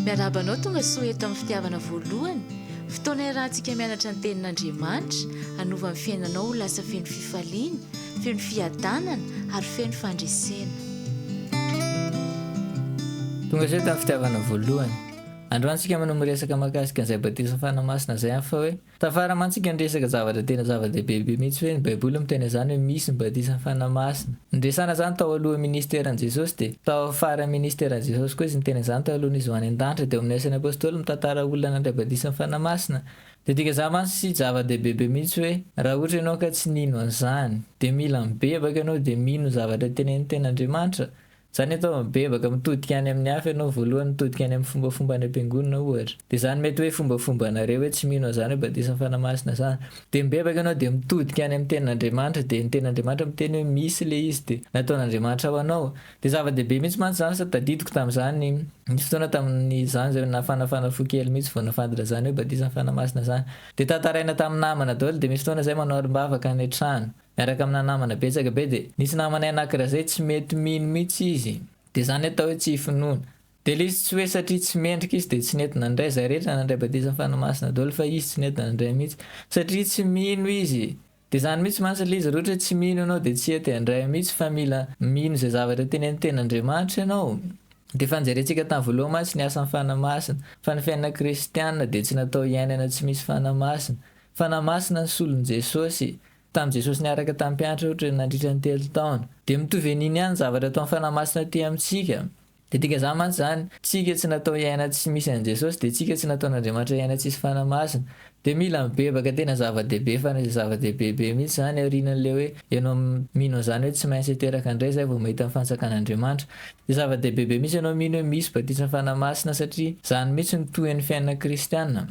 Miarahaba anao tonga soa eto amin'ny fitiavana voalohany, fotoana iarahantsika mianatra ny Tenin'Andriamanitra, hanova ny fiainanao ho lasa feno fifaliana, feno fiadanana ary feno fandresena. Tonga soa eto amin'ny fitiavana voalohany. Androany isika no miresaka mahakasika an'izay batisa fanahy masina izay amin'ny fa hoe Tafaramantsika ny resaka zavatra tena zava-dehibe be mihitsy hoe ny baiboly miteny an'izany hoe misy ny batisan'ny Fanahy Masina. Niresana izany tao alohan'ny ministeran'i Jesosy dia tao amin'ny faran'ny ministeran'i Jesosy koa izy niteny an'izany talohan'ny izy ho any an-danitra dia ao amin'ny asan'ny apostoly mitantara olona nandray batisan'ny Fanahy Masina dia dikan'izany mantsy zava-dehibe be mihitsy hoe raha ohatra ianao ka tsy nino an'izany dia mila mibebaka ianao dia mino ny zavatra tenenin'ny Tenin'Andriamanitra Zany atao hoe mibebaka mitodika any amin'ny hafa ianao voalohany mitodika any amin'ny fombafomba any am-piangonana ohatra dia zany mety hoe fombafombanareo hoe tsy mino an'izany hoe batisa fanahy masina zany dia mibebaka ianao dia mitodika any amin'ny tenin'Andriamanitra dia ny tenin'Andriamanitra miteny hoe misy le izy dia nataon'Andriamanitra ho anao dia zava-dehibe mihitsy mantsy zany sady tadidiko tamin'izany nisy fotoana tamin'izany zay nafanafana fo kely mihitsy vao nafantatra zany hoe batisa fanahy masina zany dia tantaraina tamin'ny namana daholo dia misy fotoana zay manao arim-bavaka any an-trano Miaraka amina namana betsaka be dia nisy namanay anakirazay tsy mety mino mitsy izy dia zany atao hoe tsy finoana dia le izy tsy hoe satria tsy mendrika izy dia tsy nety nandray zay rehetra nandray batisa fanahy masina doly fa izy tsy nety nandray mitsy satria tsy mino izy dia zany mitsy mantsy le izy roatra hoe tsy mino ianao dia tsy hety handray mitsy fa mila mino zay zavatra teneniny tena Andriamanitra ianao dia efa njerentsika tam voaloha mantsy ny asan fanahy masina fa ny fiainana kristiana dia tsy natao hiainana tsy misy fanahy masina Fanamasina ny solon'i Jesosy. Tamin'i Jesosy niaraka tamin'ny mpianatra ohatra nandritra ny telo taona. Dia mitovy an'iny ihany ny zavatra ataon'ny fanamasina aty amintsika. Dia dika izany mantsy izany, tsika tsy natao hiaina tsy misy an'i Jesosy dia tsika tsy nataon'Andriamanitra hiaina tsisy fanamasina. Dia mila mibebaka tena zava-dehibe fana izay zava-dehibe be mihitsy izany aorianan'ilay hoe ianao mino an'izany hoe tsy maintsy hiteraka indray izay vao mahita ny fanjakan'Andriamanitra. Dia zava-dehibe be mihitsy ianao mino hoe misy batisa fanamasina satria izany mihitsy no tohin'ny fiainana kristiana.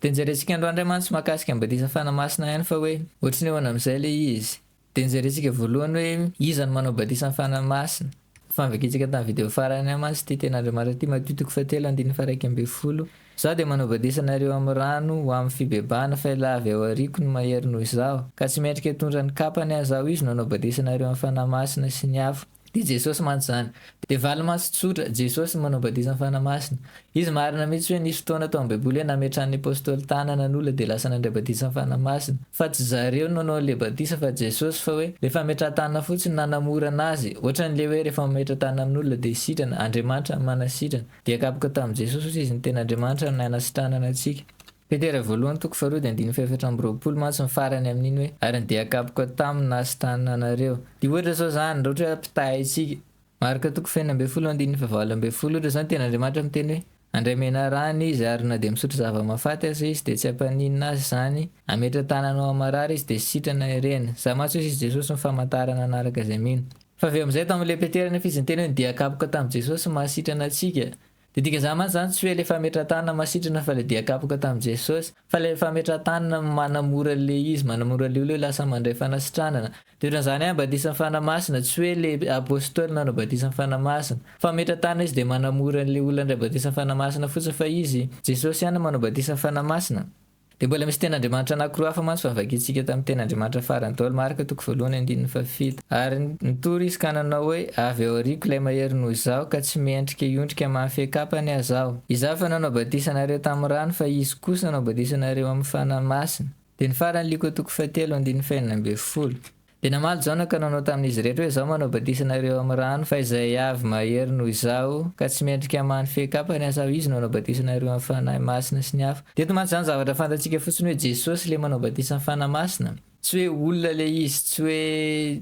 Dia nijerentsika andro andry mantsy mahakasika ny batisa fanahy masina ihany fa hoe ohatry ny ahoana amin'izay ilay izy. Dia nijerentsika voalohany hoe iza no manao batisa ny fanahy masina. Efa novakintsika tamin'ny video farany ihany mantsy ity teny Andriamanitra ity Matio toko fahatelo andininy faha-iraika ambin'ny folo, Izaho dia manao batisa anareo amin'ny rano ho amin'ny fibebahana fa ilay avy ao aoriako no mahery noho izaho, ka tsy mendrika hitondra ny kapany aho izaho izy no hanao batisa anareo amin'ny fanahy masina sy ny afo. Dia Jesosy mantsy izany. Dia valimaso tsotra, Jesosy manao batisa ny Fanahy Masina. Izy marina mihitsy hoe nisy fotoana tao am baiboly hoe nametrahan ny Apostoly tanana ny olona dia lasa nandray batisa ny Fanahy Masina. Fa tsy zareo no nanao anle batisa fa Jesosy fa hoe le fametraha tanana fotsiny no nanamorana azy. Ohatran le hoe rehefa mametra tanana amin olona dia sitrana, Andriamanitra no manasitrana. Dia kapoka tamin Jesosy hoe izy no tena Andriamanitra no nanasitranana antsika. Petera voalohany toko faharoa dia andininy fahefatra amby roapolo mantsy ny farany amin'iny hoe, ary ny dia akapoka taminy na sy tananareo. Dia ohatra izao izany, raha ohatra hoe ampitahay antsika. Marka toko fahenina ambin'ny folo andininy fahavalo ambin'ny folo, ohatra izao ny tenin'Andriamanitra miteny hoe, Handray menarana izy, ary na dia misotro zava-mahafaty aza izy dia tsy hampaninona azy izany, hametra tanana ao amin'ny marary izy dia sitrana hirena. Izaho mantsy hoy sizy Jesosy ny famantarana hanaraka izay mino. Fa avy amin'izay tao amin'ilay Petera anefa izy niteny hoe ny dia akapoka tamin'i Jesosy no mahasitrana antsika. Dia dika zany mantsy zany tsy hoe le fametratanana masitrana fa le dia kapoka tam Jesosy fa le fametratanana manamora le izy manamora le olona hoe lasa mandray fanasitranana de otranzany an batisan fana masina tsy hoe le apostoly nanao batisan fana masina fametratanana izy de manamora le olona ndray batisan fana masina fotsiny fa izy Jesosy ihany manao batisan fana masina Dia mbola misy ten'Andriamanitra anankiroa hafa mantsy fa vakintsika tamin'ny teny Andriamanitra farany tao Marka toko voalohany andininy fahafito. Ary nitory izy ka nanao hoe, Avy ao aoriako ilay mahery noho izaho ka tsy mendrika hiondrika mamaha fiakapany aza aho. Izaho efa nanao batisa anareo tamin'ny rano fa izy kosa hanao batisa anareo amin'ny Fanahy Masina. Dia ny faran'ny Lioka toko fahatelo andininy fahenina ambin'ny folo. Dia namaly Jaona ka nanao tamin'izy rehetra hoe, Izaho manao batisa anareo amin'ny rano, fa izay avy mahery noho izaho, ka tsy mendrika hamany fehin-kapany aho, saho izy no hanao batisa anareo amin'ny Fanahy Masina sy ny afo. Dia eto mantsy izany zavatra fantatsika fotsiny hoe Jesosy ilay manao batisa amin'ny Fanahy Masina. Tsy hoe olona ilay izy, tsy hoe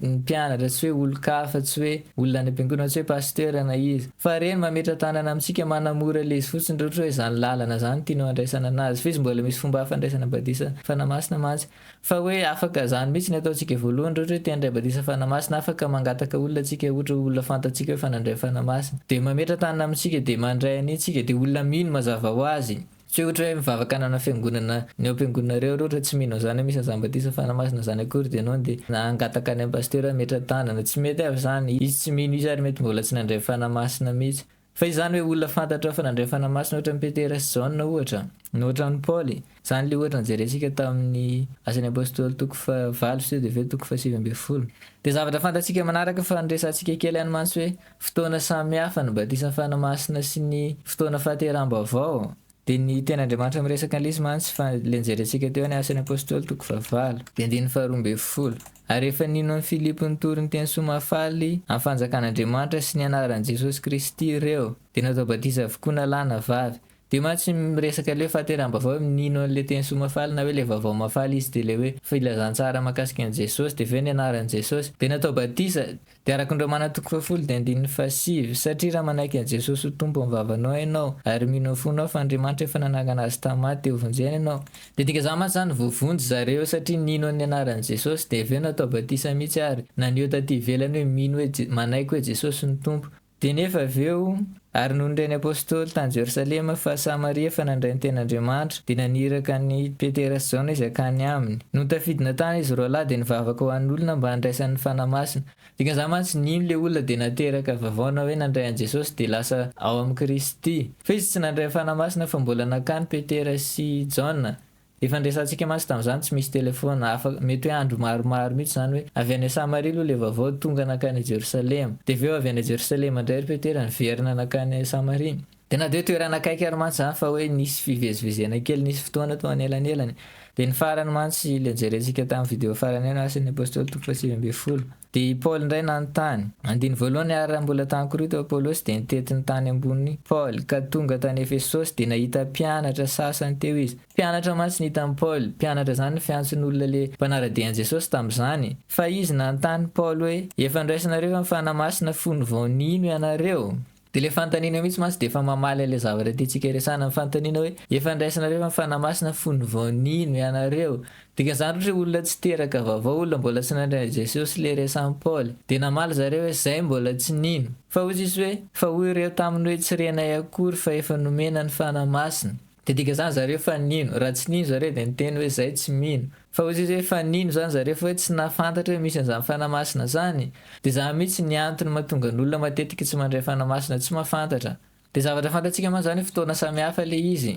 ny mpianatra, tsy hoe olon-kafa, tsy hoe olona any am-piangonana, tsy hoe pasitera na iza. Fa Reny mametra-tanana amintsika, manamora ilay izy fotsiny, raha ohatra hoe izany lalana izany tianao handraisana an'azy. Fa izy mbola misy fomba hafa handraisana batisa amin'ny Fanahy Masina mantsy. Fa hoe afaka zany mitsy ny ataontsika voalohany rehetra hoe te handray batisa fanamasina afaka mangataka olona tsika ohatra olona fantatsika hoe efa nandray fanamasina de mametra tanana amitsika de mandray anie tsika de olona mino mazava ho azy tsy hoe ohatra hoe mivavaka hanana fiangonana ny ao ampiangonana reo ohatra tsy mino anzany hoe misy anzany batisa fanamasina zany akory de enao de hangataka any am pasteur hametra tanana tsy mety avy zany izy tsy mino izy ary mety mbola tsy nandray fanamasina mitsy Fa izany hoe olona fantatrao fa nandray fanahy masina ohatran'i Petera sy Jaona ohatra? Na ohatran'i Paoly? Izany ilay ohatra nojerentsika tamin'ny Asan'ny Apostoly toko fahavalo sy TDV toko fahasivy ambin'ny folo. Dia zavatra fantatsika manaraka fa niresahantsika kely ihany mantsy hoe fotoana samihafa ny batisan'ny fanahy masina sy ny fotoana fahateraham-baovao. Dia ny tenin'Andriamanitra miresaka lesy mantsy fa ilay nijerentsika teo any Asan'ny Apostoly toko fahavalo. Dia andininy faharoa ambin'ny folo. Ary rehefa nino an'i Filipo nitory ny teny soa mahafaly amin'ny fanjakan'Andriamanitra sy ny anaran'i Jesosy Kristy ireo, dia natao batisa avokoa na lahy na vavy. Dia mantsy miresaka ilay fahaterahambaovao hoe nino an'ilay teny soa mahafaly na hoe ilay vaovao mahafaly izy dia ilay hoe filazantsara mahakasika an'i Jesosy dia avy eo ny anaran'i Jesosy dia natao batisa. Dia araka ny Romana toko fahafolo dia andininy fahasivy, Satria raha manaiky an'i Jesosy ho Tompo amin'ny vavanao ianao, ary mino amin'ny fonao fa Andriamanitra efa nanangana Azy tamin'ny maty dia hovonjena ianao, dia dika izany mantsy izany, voavonjy zareo satria nino ny anaran'i Jesosy, dia avy eo natao batisa mihitsy ary, na ny eo taty ivelany hoe mino hoe, manaiky hoe Jesosy no Tompo. Dia nefa avy eo, ary nony reny Apostoly tany Jerosalema fa Samaria efa nandray ny tena Andriamanitra, dia naniraka an'i Petera sy Jaona izy hakany aminy. Nony tafidina tany izy roalahy dia nivavaka ho an'olona mba handraisany ny Fanahy Masina. Dikan'izany mantsy nino ilay olona dia nateraka vavaona hoe nandray an'i Jesosy dia lasa ao amin'i Kristy. Fa izy tsy nandray ny Fanahy Masina fa mbola nankany Petera sy Jaona Efa niresahantsika mantsy tamin'izany, tsy misy telefaona, afaka, mety hoe andro maromaro mihitsy izany hoe, avy any Samaria aloha ilay vaovao, tonga nankany Jerosalema. Dia avy eo avy any Jerosalema indray ry Petera niverina nankany Samaria. Dia na dia hoe toerana akaiky ary mantsy izany fa hoe nisy fivezivezena kely, nisy fotoana tao anelanelany. Dia ny farany mantsy ilay nojerentsika tamin'ny video farany ihany, Asan'ny Apostoly toko fahasivy ambin'ny folo. Dia i Paoly indray nanontany. Andininy voalohany Ary raha mbola tany Korinto Apolosy dia nitety ny tany ambony Paoly, ka tonga tany Efesosy dia nahita mpianatra sasany teo izy. Mpianatra mantsy ny hitan'i Paoly. Mpianatra izany no fiantson'olona le mpanara-dia an'i Jesosy tamin'izany. Fa izy nanontany Paoly hoe, Efa niraisinareo ve ny Fanahy Masina fony vao nino ianareo? Dia ilay fanontaniana mihitsy mantsy dia efa mamaly an'ilay zavatra tiantsika hiresahana ny fanontaniana hoe, efa niraisinareo ve ny Fanahy Masina fony vao nino ianareo? Dikan'izany ohatra hoe olona tsy teraka vaovao, olona mbola tsy nandre an'i Jesosy ilay resahin'i Paoly. Dia namaly zareo hoe, Izahay mbola tsy nino. Fa hoy Jesosy hoe, Fa hoy ireo taminy hoe, Tsy renay akory fa efa nomena ny Fanahy Masina. Dia dikan'izany zareo fa nino. Raha tsy nino zareo dia niteny hoe, Izahay tsy mino. Fa hoy izy hoe efa nino izany zareo fa hoe tsy nahafantatra hoe misy an'izany Fanahy Masina izany. Dia izany mihitsy ny antony mahatonga ny olona matetika tsy mandray Fanahy Masina tsy mahafantatra. Dia zavatra fantatsika mantsy izany hoe fotoana samihafa ilay izy.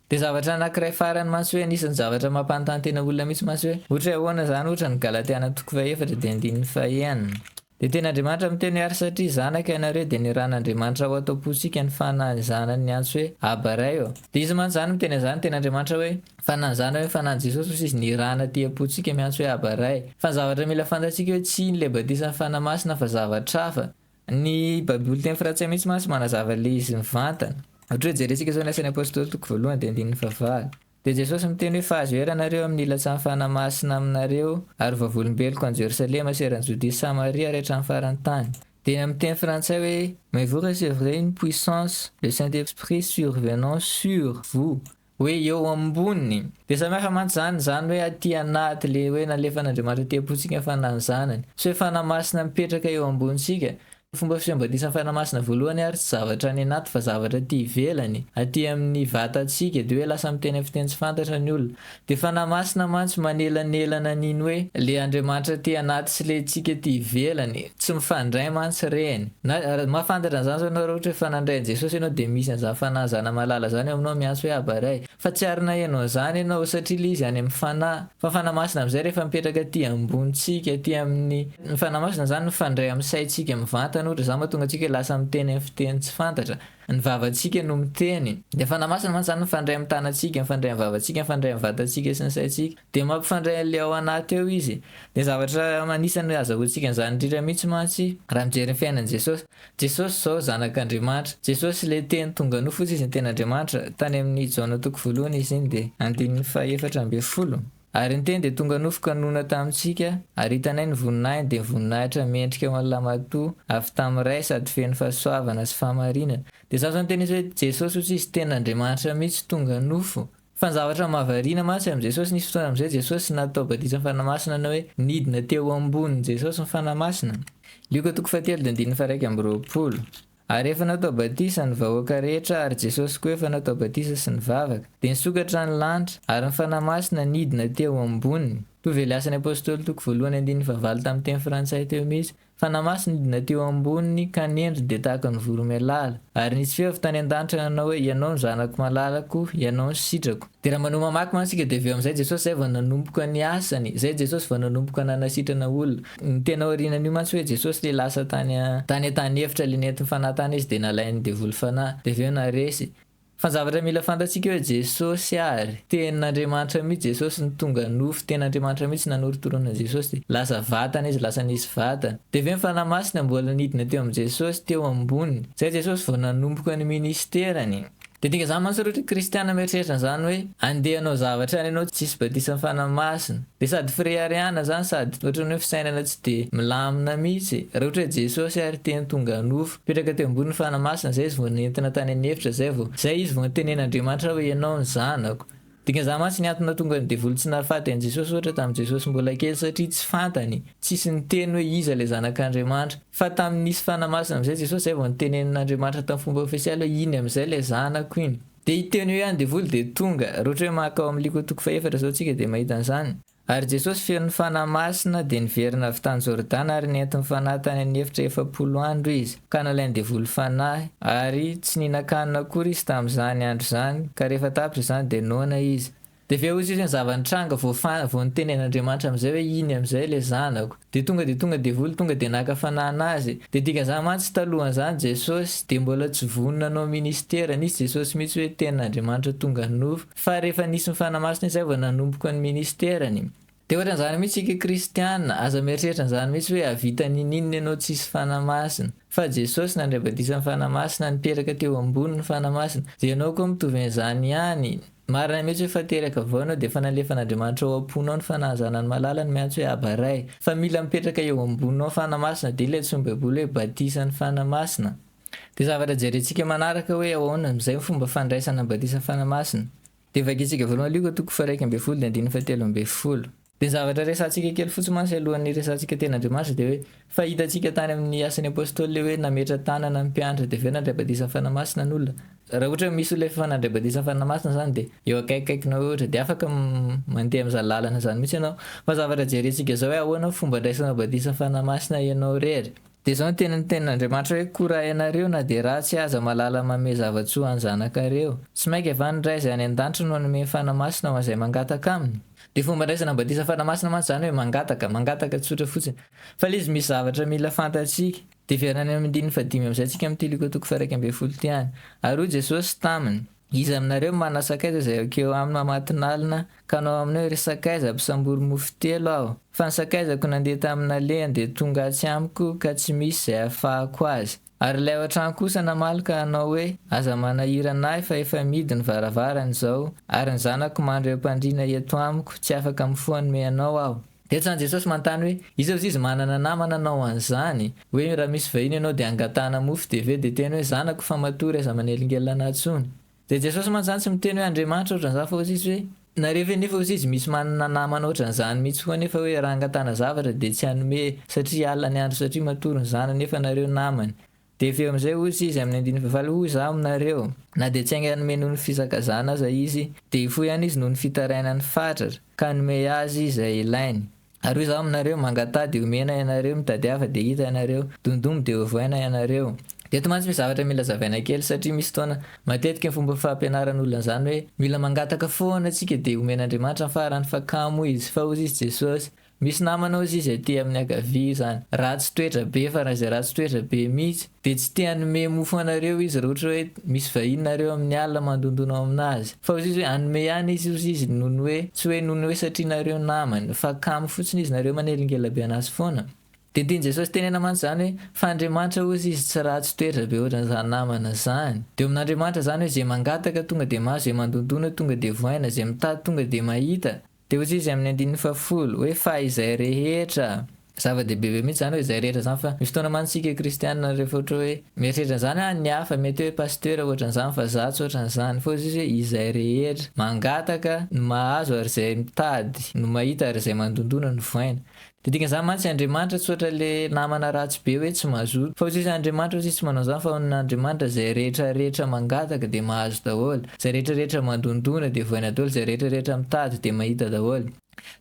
Dia zavatra anankiray farany mantsy hoe anisan'ny zavatra mampanontany tena olona mihitsy mantsy hoe ohatra hoe ahoana izany ohatra ny Galatiana toko faha efatra dia andininy faha enina. Dia tena Andriamanitra miteny ary satria zanaka ianareo dia niran'Andriamanitra ao an-tompontsika ny fanahiny zanany niantso hoe Abba Ray ô. Dia izy mantsy izany miteny an'izany teny Andriamanitra hoe fanahiny zanany hoe fanahiny Jesosy fa tsy izy nirana aty am-pontsika miantso hoe Abba Ray. Fa ny zavatra mila fantatsika hoe tsy iny ilay batisan'ny Fanahy Masina fa zavatra hafa. Ny baiboly teny frantsay mihitsy mantsy manazava ilay izy mivantana. Ohatra hoe jerentsika izao ny asan'ny apostoly toko voalohany dia andininy fahavalo. Dia Jesosy miteny hoe, Fahazo ery ianareo amin'ny ilatsahan'ny Fanahy Masina aminareo, ary ho vavolombeloko any Jerosalema sy eran'i Jodia sy Samaria ary hatramin'ny faran'ny tany. Dia amin'ny teny frantsay hoe, Mais vous recevrez une puissance, le Saint-Esprit survenant sur vous, hoe eo ambony. Dia samihafa mantsy izany, izany hoe aty anaty, ilay hoe nalefan'Andriamanitra aty am-pontsika ny Fanahin'ny Zanany, sy hoe Fanahy Masina mipetraka eo ambonintsika, Fomba fiseho batisan'ny Fanahy Masina voalohany ary tsy zavatra any anaty fa zavatra aty ivelany, aty amin'ny vatantsika, dia hoe lasa miteny amin'ny fiteny tsy fantatra ny olona. Dia Fanahy Masina mantsy manelanelana an'iny hoe ilay Andriamanitra aty anaty sy ilay antsika aty ivelany, tsy mifandray mantsy ireny. Na, mahafantatra an'izany zao ianao raha ohatra hoe efa nandray an'i Jesosy ianao dia misy an'izany Fanahy zana-malala zany ao aminao miantso hoe Aba Ray. Fa tsy ary naheno an'izany ianao, satria ilay izy any amin'ny Fanahy. Fa Fanahy Masina amin'izay rehefa mipetraka aty ambonintsika, aty amin'ny. Ny Fanahy Masina izany mifandray amin'ny saintsika mivantana, ohatra izany, mahatonga antsika lasa miteny amin'ny fiteny tsy fantatra. Ny vavantsika no miteny. Ilay Fanahy Masina mantsy izany mifandray amin'ny tanantsika, mifandray amin'ny vavantsika, mifandray amin'ny vatantsika sy ny saintsika. Dia mampifandray an'ilay ao anaty eo izy. Dia zavatra anisan'ny azahoantsika an'izany indrindra mihitsy mantsy raha mijery ny fiainan'i Jesosy. Jesosy izao Zanak'Andriamanitra. Jesosy ilay Teny tonga nofo izy izy ny Teny Andriamanitra. Tany amin'i Jaona toko voalohany izy iny dia andininy fahefatra ambin'ny folo. Ary ny Teny dia tonga nofo ka nonina tamintsika, ary hitanay ny voninahiny, dia voninahitra mendrika ho an'ny lahimatoa avy tamin'ny Ray sady feno fahasoavana sy fahamarinana. Dia izany izao no tena izy hoe Jesosy hoy tsisy Tenin'Andriamanitra mihitsy tonga nofo. Fa ny zavatra mahavariana mantsy amin'i Jesosy, nisy fotoana amin'izay Jesosy natao batisa fanahy masina na hoe nidina teo ambonin'i Jesosy ny fanahy masina. Lioka toko fahatelo dia andininy faharaika amby roapolo. Ary efa natao batisa ny vahoaka rehetra ary Jesosy koa efa natao batisa sy nivavaka. Dia nisokatra ny lanitra, ary ny fanahy masina nidina teo amboniny. Toa veliasan'ny apostoly toko voalohany andininy fahavalo tamin'ny teny frantsay teo mihitsy, Fa namasy ny dina teo amboniny ka nendry dia tahaka ny voromailala. Ary nisy feo avy tany an-danitra nanao hoe, Ianao no Zanako malalako, Ianao no sitrako. Dia raha manohy mamaky mantsy isika dia avy eo amin'izay Jesosy izay vao nanomboka ny asany, izay Jesosy vao nanomboka nanasitrana olona. Ny tena aorianan'io mantsy hoe Jesosy ilay lasa tany an-tany efitra ilay nentin'ny fanahy tany izy dia nalain'ny devoly fanahy, dia avy eo naharesy. Fa zavatra mila fantatsika eo Jesosy ary tenin'Andriamanitra mihitsy Jesosy no tonga nofo ten'Andriamanitra mihitsy nanorotoroana Jesosy dia lasa vatana izy lasa nisy vatana dia avy eo ny Fanahy Masina mbola nidina teo amin'i Jesosy teo ambony izay Jesosy vao nanomboka ny ministerany dia dinga izany mantsy roty kristiana mieritreritra an'izany hoe andeha hanao zavatra any ianao tsisy batisan'ny Fanahy Masina dia sady fireharehana izany sady ohatran'ny hoe fisainana tsy dia milamina mihitsy raha ohatra hoe Jesosy ary teny tonga nofo Nipetraka teo ambonin'ny fana masina izay izy vao nentina tany an'efitra izay vao izay izy vao nitenen'Andriamanitra hoe ianao no zanako. Dikan'izany mantsy ny antony nahatonga ny devoly tsy nahafaty an'i Jesosy ohatra tamin'i Jesosy mbola kely satria tsy fantany, tsisy niteny hoe iza ilay zanak'Andriamanitra. Fa tamin'ny nisy fana masina amin'izay Jesosy izay vao nitenenin'Andriamanitra tamin'ny fomba ofisialy hoe iny amin'izay ilay zanako iny. Dia hiteny hoe ihany devoly dia tonga. Raha ohatra hoe maka ao amin'ny Liko toko faha efatra izao tsika dia mahita an'izany. Ary Jesosy feno ny Fanahy Masina dia niverina avy tany Jordana ary nentin'ny Fanahy tany amin'ny efitra efapolo andro izy, ka nalain'ny devoly Fanahy, ary tsy nihinan-kanina akory izy tamin'izany andro izany, ka rehefa tapitra izany dia noana izy. Dia avy eo hozy izy ny zava-nitranga, vao fantatra, vao nitenen'Andriamanitra amin'izay hoe iny amin'izay ilay zanako, dia tonga dia tonga devoly tonga dia naka Fanahy anazy, dia dikan'izany mantsy talohan'izany Jesosy dia mbola tsy vonona hanao ministera, nisy Jesosy mihitsy hoe tenin'Andriamanitra tonga nofo, Fa rehefa nisy ny fanamasina izay vao nanomboka ny ministerany. Dia ohatran'izany mihitsy isika kristiana, aza mieritreritra an'izany mihitsy hoe hahavita ninininona ianao tsisy fanamasina. Fa Jesosy nandray badisa ny fanamasina, nipetraka teo ambony ny fanamasina. Dia ianao koa mitovy an'izany ihany. Marina mihitsy hoe efa teraka vao ianao dia efa nalefan'Andriamanitra ao am-ponao ny fanahazanany malala ny miantso hoe Aba Ray. Fa mila mipetraka eo amboninao fanamasina dia ilay antsoin'ny baiboly hoe batisan'ny fanamasina. Dia zavatra jerentsika manaraka hoe ahoana amin'izay ny fomba fandraisana ny batisa fanahy masina. Dia vakintsika voalohany Lioka toko faha-iraika ambin'ny folo dia andininy fahatelo ambin'ny folo. Dia ny zavatra resahantsika kely fotsiny mantsy alohan'ny hiresahantsika tena Andriamanitra dia hoe, fa hitantsika tany amin'ny Asan'ny Apôstôly ilay hoe nametra-tanana ny mpianatra dia avy eo nandray batisa fanahy masina ny olona. Raha ohatra hoe misy olona efa nandray batisa fanahy masina izany dia eo akaikikaikinao eo ohatra dia afaka mandeha amin'izany lalana izany mihitsy ianao. Fa ny zavatra jerentsika izao hoe ahoana ny fomba andraisanao batisa fanahy masina ianao irery. Dia izao ny teny nitenin'Andriamanitra hoe, Koa raha ianareo na dia ratsy aza mahalala manome zava-tsoa ho an'ny zanakareo, tsy mainka va ny Ray izay any an-danitra no hanome ny Fanahy Masina ho an'izay mangataka Aminy? Dia fomban-draisana ny batisa Fanahy Masina mantsy izany hoe mangataka, mangataka tsotra fotsiny. Fa ilay izy misy zavatra mila fantatsika. Dia heverina any amin'ny andininy fahadimy amin'izay tsika amin'ny Tiliko toko faha-iraika ambin'ny folo ity any. Ary hoy Jesosy taminy. Iza aminareo mana sakaiza izay ekeo aminy mamatinalina ka hanao aminy hoe, Ry sakaiza, mpisambory mofo telo aho, fa ny sakaizako nandeha tamin'ny nalehany dia tonga atsy amiko ka tsy misy izay hahafahako azy. Ary ilay ao an-trano kosa namaly ka hanao hoe, Aza manahirana ahy fa efa mihidy ny varavarana izao, ary ny zanako mandry eo am-pandriana eto amiko, tsy afaka mifoha hanome anao aho. Dia tsan Jesosy manontany hoe, iza ozy izy manana namana anao an'izany? Hoe raha misy vahiny ianao dia angatahana mofo dia ve dia teny hoe zanako fa matoa ry aza manelingelina anah tsony? Dia Jesosy mantsany tsy miteny hoe Andriamanitra ohatran'izany fa ozy izy hoe, nareo ve nefa ozy izy misy manana namana ohatran'izany mitsy koa nefa hoe raha angatahana zavatra dia tsy hanome satria alina ny andro satria matory ny zanany nefa nareo namany Dia avy eo amin'izay hozy izy amin'ny andininy fahavalo, Hoy izaho aminareo, na dia tsy haingana hanome noho ny fisakazana aza izy, dia hifoha ihany izy noho ny fitarainan'ny fatratra, ka hanome azy izay ilainy. Ary hoy izaho aminareo, Mangataha, dia homena ianareo, mitadiava, dia hita ianareo, dondomy, dia hovaina ianareo. Dia eto mantsy misy zavatra mila zavaina kely, satria misy fotoana, matetika ny fomba fampianaran'olona an'izany hoe, mila mangataka foana isika, dia homen'Andriamanitra ny farany, fa kamo izy, fa hozy izy, Jesosy, Misy namanao zay zay aty amin'ny ankavia io zany ratsy toetra be farany zay ratsy toetra be mitsy de tsy te hanome mofo anareo izy raha ohatra hoe misy vahiny nareo amin'ny alina mandondona ao aminazy fa ozy izy hoe hanome ihany izy ozy izy noho ny hoe tsy hoe noho ny hoe satria nareo namany fa kamo fotsiny izy nareo manelingela be anazy foana de ny tian'i Jesosy tenena mantsy zany hoe fa Andriamanitra ozy izy tsy ratsy toetra be ohatrany zany namana zany de eo amin'Andriamanitra zany hoe zay mangataka tonga de mahazo zay mandondona tonga de voaina zay mitady tonga de mahita Dia hozy izy amin'ny andininy fahafolo, hoe fa izay rehetra, zava-dehibe be mihitsy izany hoe izay rehetra izany fa misy fotoana mantsy isika kristiana rehefa ohatra hoe mieritreritra an'izany an ny hafa mety hoe pasitera ohatran'izany fa za tsy ohatran'izany, fa hozy izy hoe izay rehetra, mangataka no mahazo ary izay mitady no mahita ary izay mandondona no voaina. Dia dikan'izany mantsy Andriamanitra tsy ohatra ilay namana ratsy be hoe tsy mazoto. Fa ho tsisy Andriamanitra ho tsisy tsy manao izany fa ho an'Andriamanitra izay rehetra rehetra mangataka dia mahazo daholo, izay rehetra rehetra mandondona dia voaina daholo, izay rehetra rehetra mitady dia mahita daholo.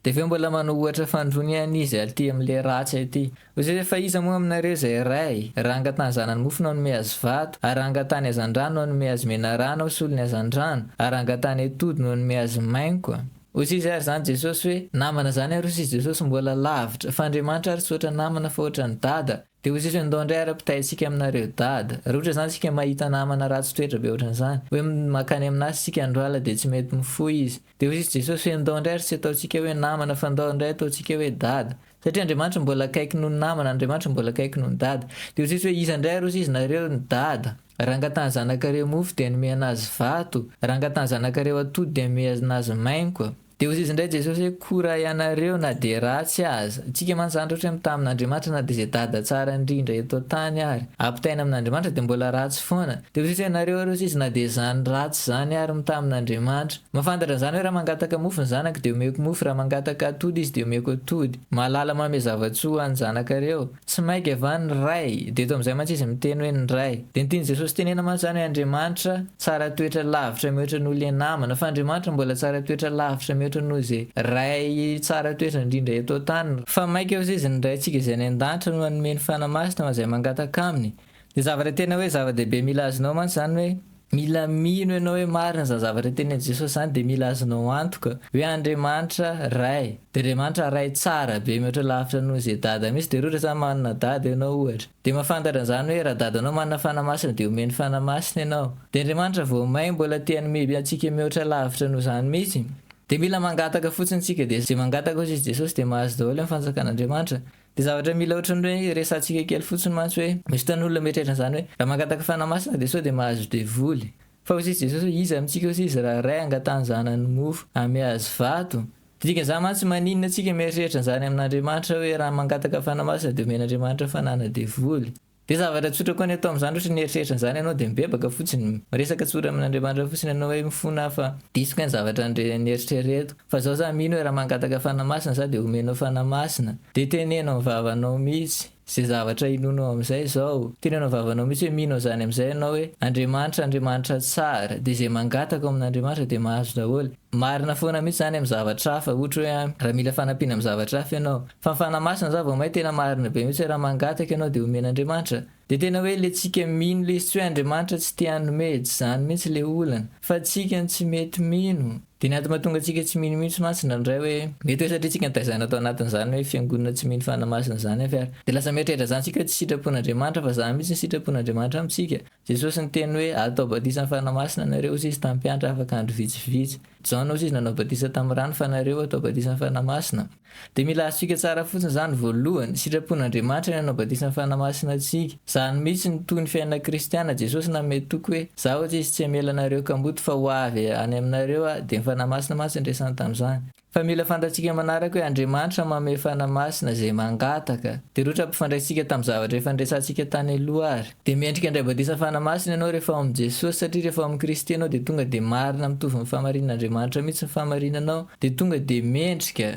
Dia avy eo mbola manao ohatra fanindroany an izy alty amin'ilay ratsy aty. Hoy izy hoe, fa iza moa aminareo izay ray, raha angatahany zanany mofo no hanome azy vato, ary raha angatahany hazandrano no hanome azy menarana, ho solony hazandrano, ary raha angatahany atody no hanome azy maingoka? Hoy sizy ary zany Jesosy hoe namana zany ary hoy sizy Jesosy mbola lavitra fa Andriamanitra ary tsy ohatra namana fa ohatra ny dada dia hoy sizy hoe ndao ndray ary ampitahay tsika aminareo dada raha ohatra zany tsika mahita namana ratsy toetra be ohatra an'izany hoe makany amin'asy tsika andro alina dia tsy mety mifoha izy dia hoy sizy Jesosy hoe ndao ndray ary tsy ataontsika hoe namana fa ndao ndray ataontsika hoe dada Satria Andriamanitra mbola akaiky noho ny namana, Andriamanitra mbola akaiky noho ny dada. Dia ho tsisy hoe iza indray aroso izy nareo ny dada. Raha angatahany zanakareo mofo dia hanome anazy vato, raha angatahany zanakareo atody dia hanome anazy mainko. Dia ho iza indray Jesosy hoe kora ianareo na dia ratsy aza. Antsika mantsy zany rehetra hoe mitamin Andriamanitra na dia izay dada tsara indrindra eto antany ary. Ampitaina amin Andriamanitra dia mbola ratsy foana. Dia ho tsisy hoe nareo aroso izy na dia izany ratsy izany ary mitamin Andriamanitra. Mahafantatra an'izany hoe raha mangataka mofo ny zanako dia omeko mofo, raha mangataka atody izy dia omeko atody. Mahalala manome zava-tsoa ho an'ny zanakareo. Tsy maika va ny Ray? Dia eto amin'izay mantsy izy miteny hoe ny Ray. Dia ny tian'i Jesosy tenena mantsy izany hoe Andriamanitra tsara toetra lavitra mihoatra noho ilay namana. Fa Andriamanitra mbola tsara toetra lavitra mihoatra noho izay Ray tsara toetra indrindra eto an-tany. Fa maika hozizin'ny Raintsika izay any an-danitra no hanome ny Fanahy Masina ho an'izay mangataka Aminy. Dia zavatra tena hoe zava-dehibe mila azonao mantsy izany hoe mila mino ianao hoe marina izany zavatra tenenin'i Jesosy izany dia mila azonao antoka hoe Andriamanitra Ray dia Andriamanitra Ray tsara be mihoatra lavitra noho izay dada mihitsy dia raha ohatra izany manana dada ianao ohatra dia mahafantatra an'izany hoe raha dadanao manana fanahy masina dia omeny fanahy masina ianao dia Andriamanitra vao main mbola te hanome antsika mihoatra lavitra noho izany mihitsy dia mila mangataka fotsiny tsika dia izay mangataka hozy izy Jesosy dia mahazo daholo ny fanjakan'Andriamanitra Dia zavatra mila ohatran'ny hoe resahantsika kely fotsiny mantsy hoe, misy fotoana olona mieritreritra an'izany hoe, raha mangataka fanahy masina dia sao dia mahazo devoly. Fa hozizy Jesosy hoe, iza amintsika hozizy raha ray hangatahany zanany mofo, hame azy vato? Dia dikan'izany mantsy maninona antsika mieritreritra an'izany amin'Andriamanitra hoe raha mangataka fanahy masina dia omen'Andriamanitra fanahy na devoly? Dia zavatra tsotra koa ny atao amin'izany ohatra nieritreritra an'izany ianao dia mibebaka fotsiny, miresaka tsotra amin'Andriamanitra fotsiny ianao hoe mifona aho fa diso kay ny zavatra nieritreretiko, fa zao za mino hoe raha mangataka fanahy masina za dia omenao fanahy masina, dia teneno amin'ny vavanao mihitsy izay zavatra inoanao amin'izay izao, teneno amin'ny vavanao mihitsy hoe mino an'izany amin'izay ianao hoe Andriamanitra Andriamanitra tsara, dia izay mangataka ao amin'Andriamanitra dia mahazo daholo. Marina foana mihitsy zany am zavatra hafa ohatra hoe an raha mila fanampiana am zavatra hafa ianao fa ny fanahy masina za vao mahay tena marina be mihitsy hoe raha mangataka ianao dia omen Andriamanitra dia tena hoe le tsika mino le izy tsy hoe Andriamanitra tsy te hanome tsy zany mihitsy le olana fa tsika no tsy mety mino dia ny antoma tonga tsika tsy mino mihitsy mantsy ndraindray hoe mety hoe satria tsika nitaizana tao anatin zany hoe fiangonana tsy mino fanahy masina zany avy ary dia lasa mieritreritra zany tsika hoe tsy sitram-pon Andriamanitra fa za mihitsy ny sitram-pon Andriamanitra am tsika Jesosy niteny hoe, Atao batisa amin'ny Fanahy Masina ianareo, hoy Izy tamin'ny mpiantra afaka andro vitsivitsy. Jaona, hoy Izy, nanao batisa tamin'ny rano, fa nareo atao batisa amin'ny Fanahy Masina. Dia mila azontsika tsara fotsiny izany, voalohany, sitrapon'Andriamanitra ny hanao batisa amin'ny Fanahy Masina antsika. Izany mihitsy no toy ny fiainana kristiana. Jesosy nanome toky hoe, Izaho, hoy Izy, tsy hamela anareo kamboty, fa ho avy any aminareo Aho. Dia ny Fanahy Masina mantsy no resany tamin'izany. Fa mila fantatsika manaraka hoe Andriamanitra manome fanahy masina izay mangataka. Dia rotra ampifandraisintsika tamin'ny zavatra efa niresahantsika tany aloha ary. Dia mendrika handray batisa fanahy masina ianao rehefa ao amin'i Jesosy, satria rehefa ao amin'i Kristy ianao dia tonga dia marina mitovy ny fahamarinan'Andriamanitra mihitsy ny fahamarinanao, dia tonga dia mendrika.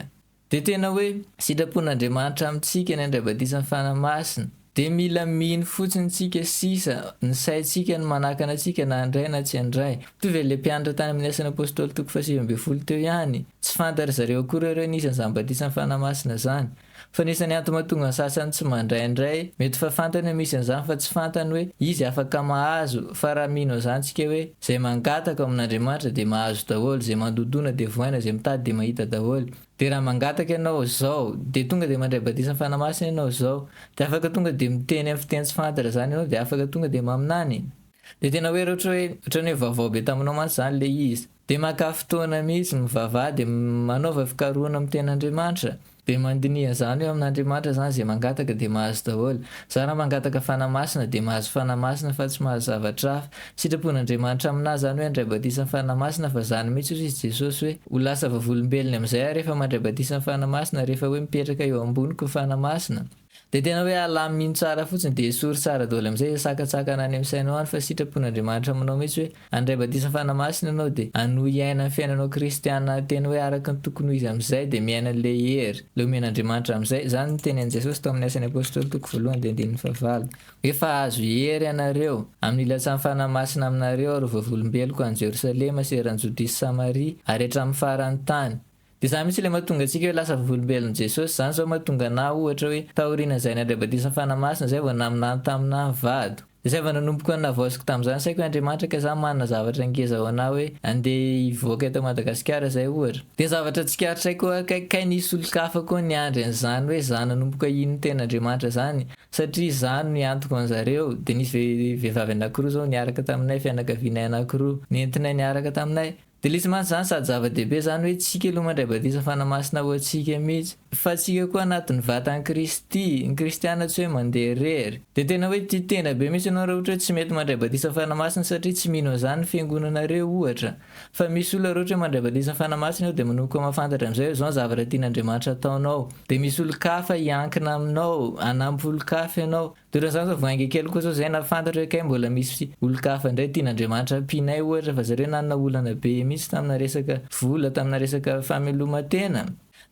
Dia tena hoe, sitrapon'Andriamanitra amintsika ny handray batisan'ny fanahy masina. Dia mila mino fotsiny tsika sisa, ny saintsika no manakana antsika na handray na tsy handray. Mitovy an'ilay mpianatra tany amin'ny Asan'ny Apôstôly toko fahasivy ambin'ny folo teo ihany, tsy fantan-dry zareo akory ireo nisy an'izany batisan'ny Fanahy Masina izany. Fa ny isan'ny antony mahatonga ny sasany tsy mandray indray, mety fa fantany hoe misy an'izany fa tsy fantany hoe izy afaka mahazo, fa raha mino an'izany tsika hoe, izay mangataka ao amin'Andriamanitra dia mahazo daholo, izay mandondona dia vohaina, izay mitady dia mahita daholo. Dia raha mangataka ianao izao, dia tonga dia mandray batisan'ny Fanahy Masina ianao izao, dia afaka tonga dia miteny amin'ny fiteny tsy fantatra izany ianao dia afaka tonga dia maminany. Dia tena hoe ohatra hoe, ohatran'ny hoe vaovao be taminao mantsy izany ilay izy. Dia maka fotoana mihitsy mivavaha dia manaova fikarohana amin'ny Tenin'Andriamanitra. Dia mandiniha izany hoe amin'Andriamanitra izany izay mangataka dia mahazo daholo. Izany raha mangataka Fanahy Masina dia mahazo Fanahy Masina fa tsy mahazo zavatra hafa. Sitrapon'Andriamanitra aminà izany hoe handray batisa ny Fanahy Masina fa izany mihitsy hoy izy Jesosy hoe ho lasa vavolombelony amin'izay aho rehefa mandray batisa ny Fanahy Masina rehefa hoe mipetraka eo amboniko ny Fanahy Masina dia tena hoe alamino tsara fotsiny dia esory tsara doly amin'izay izay sakantsakana any amin'ny sainao any fa sitrapon'Andriamanitra aminao mihitsy hoe handray batisa ny Fanahy Masina ianao dia hanohy hiaina ny fiainanao kristiana tena hoe araka ny tokony ho izy amin'izay dia miaina an'ilay hery ilay omen'Andriamanitra amin'izay izany no tenenin'i Jesosy tao amin'ny Asan'ny Apostoly toko voalohany dia andininy fahavalo Efa azo hery ianareo, amin'ny lasan'ny Fanahy Masina aminareo, ry vavolombeloko any Jerosalema sy eran'i Jodia sy Samaria, ary hatramin'ny faran'ny tany. Dia izany mihitsy ilay mahatonga antsika hoe lasa vavolombelon'i Jesosy. Izany izao mahatonga anà, ohatra, hoe taorian'izay nandray batisan'ny Fanahy Masina, izay vao naminany taminà ny vadiko. Dia izay vao nanomboko ny nahavaoziko tamin'izany saiko hoe Andriamanitra ka sa manana zavatra ngeza ho anà hoe andeha hivoaka eto Madagasikara izay, ohatra. Dia zavatra tsikaritra koa hoe kay nisy olon-kafa koa niandry an'izany hoe izany nanomboka hino ny tenin'Andriamanitra izany, Satria izaho no niantoka an'zareo, dia nisy vehivavy anakiroa izao niaraka taminay, fianakavianay anakiroa, nentinay niaraka taminay. Dia ilay tsy maintsy izany sady zava-dehibe izany hoe tsika aloha mandray batisa fanamasina ho antsika mihitsy, fa tsika koa anatin'ny vatan'i Kristy, ny kristiana tsy hoe mandeha irery. Dia tena hoe tia tena be mihitsy ianao raha ohatra hoe tsy mety mandray batisa fanamasina satria tsy mino an'izany ny fiangonanareo ohatra. Fa misy olona rehetra hoe mandraibatisa fanahy masina aho dia manomboka mahafantatra amin'izay hoe izao ny zavatra tian'Andriamanitra hataonao. Dia misy olon-kafa hiankina aminao, hanampy olon-kafa ianao. Dia ohatran'izany izao vao hainga kely koa izao izay nahafantatra hoe kay mbola misy olon-kafa indray tian'Andriamanitra hampianay ohatra fa zareo nanana olana be mihitsy tamina resaka vola, tamina resaka fameloma-tena.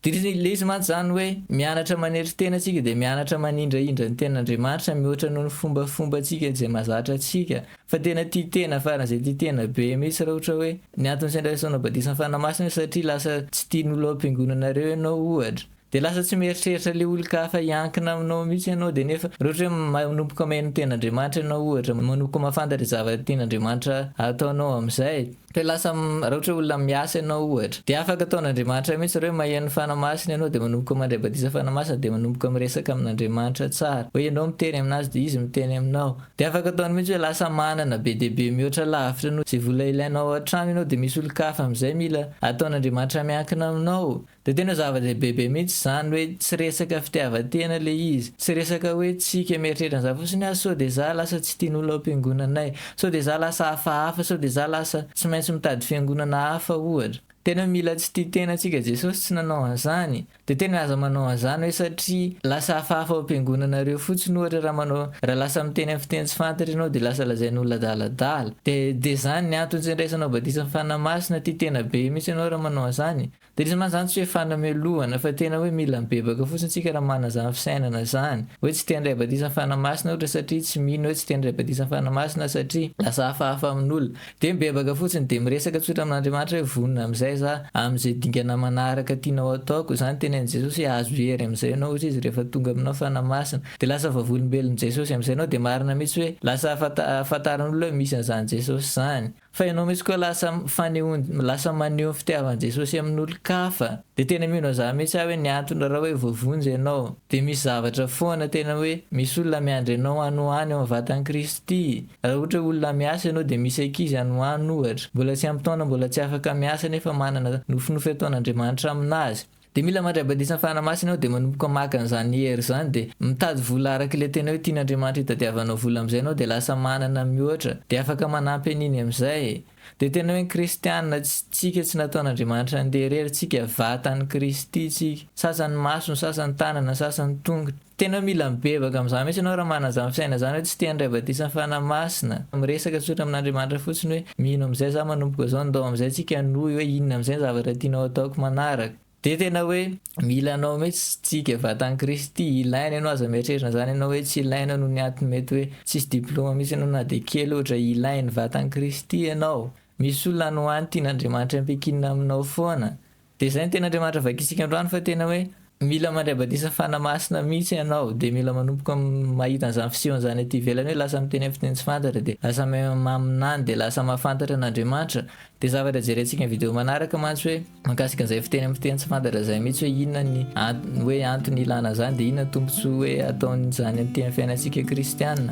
Dia ilay izy mantsy izany hoe, mianatra manetry tena isika dia mianatra manindrahindra ny tenan'Andriamanitra mihoatra noho ny fombafombantsika izay mahazatra antsika. Fa tena tia tena faran'izay tia tena be mihitsy raha ohatra hoe, ny antony sendra esoinao badisan'ny Fanahy Masina hoe satria lasa tsy tian'ny olona ao am-piangonana ireo ianao ohatra. Dia lasa tsy mieritreritra ilay olon-kafa hiankina aminao mihitsy ianao dia nefa raha ohatra hoe manomboka maheno ny tenan'Andriamanitra ianao ohatra, manomboka mahafantatra izay zavatra tian'Andriamanitra ataonao amin'izay, Te lasa raha ohatra hoe olona miasa ianao ohatra dia afaka ataon'Andriamanitra mihitsy ireo hoe maheno fanahy masina ianao dia manomboka mandray batisa fanahy masina dia manomboka miresaka amin'Andriamanitra tsara hoe ianao miteny aminazy dia izy miteny aminao dia afaka ataony mihitsy hoe lasa manana be dia be mihoatra lavitra noho izay vola ilainao ao an-trano ianao dia misy olon-kafa amin'izay mila ataon'Andriamanitra miankina aminao Dia tena zava-dehibe be mihitsy izany hoe tsy resaka fitiavan-tena ilay izy. Tsy resaka hoe tsika mieritreritra an'izany fotsiny hoe sao dia izaho lasa tsy tian'olona ao am-piangonanay, sao dia izaho lasa hafahafa, sao dia izaho lasa tsy maintsy mitady fiangonana hafa ohatra. Tena mila tsy tia tena antsika Jesosy tsy nanao an'izany. Dia tena aza manao an'izany hoe satria lasa hafahafa ao am-piangonanareo fotsiny ohatra raha manao raha lasa miteny amin'ny fiteny tsy fantatra ianao dia lasa lazain'olona adaladala. Dia dia izany ny antony tsy andraisanao batisa amin'ny Fanahy Masina, tia tena be mihitsy ianao raha manao an'izany. Dia izy mantsy zany tsy hoe fanamelohana fa tena hoe mila mibebaka fotsiny tsika raha manana izany fisainana zany hoe tsy te handray batisan'ny Fanahy Masina ohatra satria tsy mino hoe tsy te handray batisan'ny Fanahy Masina satria lasa hafahafa amin'olona. Dia mibebaka fotsiny dia miresaka tsotra amin'Andriamanitra hoe vonona amin'izay za amin'izay dingana manaraka tianao ataoko. Izany tenenin'i Jesosy hoe ahazo hery amin'izay ianao hozy izy rehefa tonga aminao Fanahy Masina. Dia lasa vavolombelon'i Jesosy amin'izay ianao dia marina mihitsy hoe lasa fantaran'olona hoe misy an'izany Jesosy zany. Fa ianao mihitsy koa lasa fanehoan lasa maneho ny fitiavan'i Jesosy amin'olon-kafa. Dia tena mino an'izany mihitsy aho hoe ny antony raha hoe voavonjy ianao dia misy zavatra foana tena hoe misy olona miandry anao any ho any ao amin'ny vatan'i Kristy. Raha ohatra hoe olona miasa ianao dia misy ankizy any ho any ohatra mbola tsy ampy taona mbola tsy afaka miasa nefa manana nofinofy ataon'Andriamanitra aminazy. Dia mila mandray batisan'ny Fanahy Masina aho dia manomboka maka an'izany hery izany dia mitady vola araka ilay tena hoe tian'Andriamanitra hitadiavanao vola amin'izay ianao dia lasa manana mihoatra dia afaka manampy an'iny amin'izay e! Dia tena hoe ny kristianina tsika tsy nataon'Andriamanitra handeha irery tsika, vatan'i Kristy tsika, sasany maso ny sasany tanana ny sasany tongotra, Tena mila mibebaka amin'izany mihitsy ianao raha manana izany fisainana izany hoe tsy te handray batisa ny Fanahy Masina. Miresaka tsotra amin'Andriamanitra fotsiny hoe, mino amin'izay za manomboka izao, ndao amin'izay tsika hanohy hoe inona amin'izay ny zavatra tianao hataoko manaraka. Dia tena hoe mila anao mihitsy tsika vatan'i Kristy, ilaina ianao, aza mieritreritra an'izany ianao hoe tsy ilaina noho ny antony mety hoe tsisy diploma mihitsy ianao na dia kely ohatra, ilain'ny vatan'i Kristy ianao. Misy olona any ho any tian'Andriamanitra hampiankinina aminao foana. Dia izay no tena Andriamanitra vakintsika androany fa tena hoe mila mandray batisa Fanahy Masina mihitsy ianao dia mila manomboka mahita an'izany fisehony izany aty ivelany hoe lasa miteny amin'ny fiteny tsy fantatra dia lasa maminany dia lasa mahafantatra an'Andriamanitra dia zavatra jerentsika ny video manaraka mantsy hoe mahakasika an'izay fiteny amin'ny fiteny tsy fantatra izay mihitsy hoe inona ny antony hoe antony ilana an'izany dia inona ny tombotsoa hoe ataon'izany aty amin'ny fiainantsika kristiana.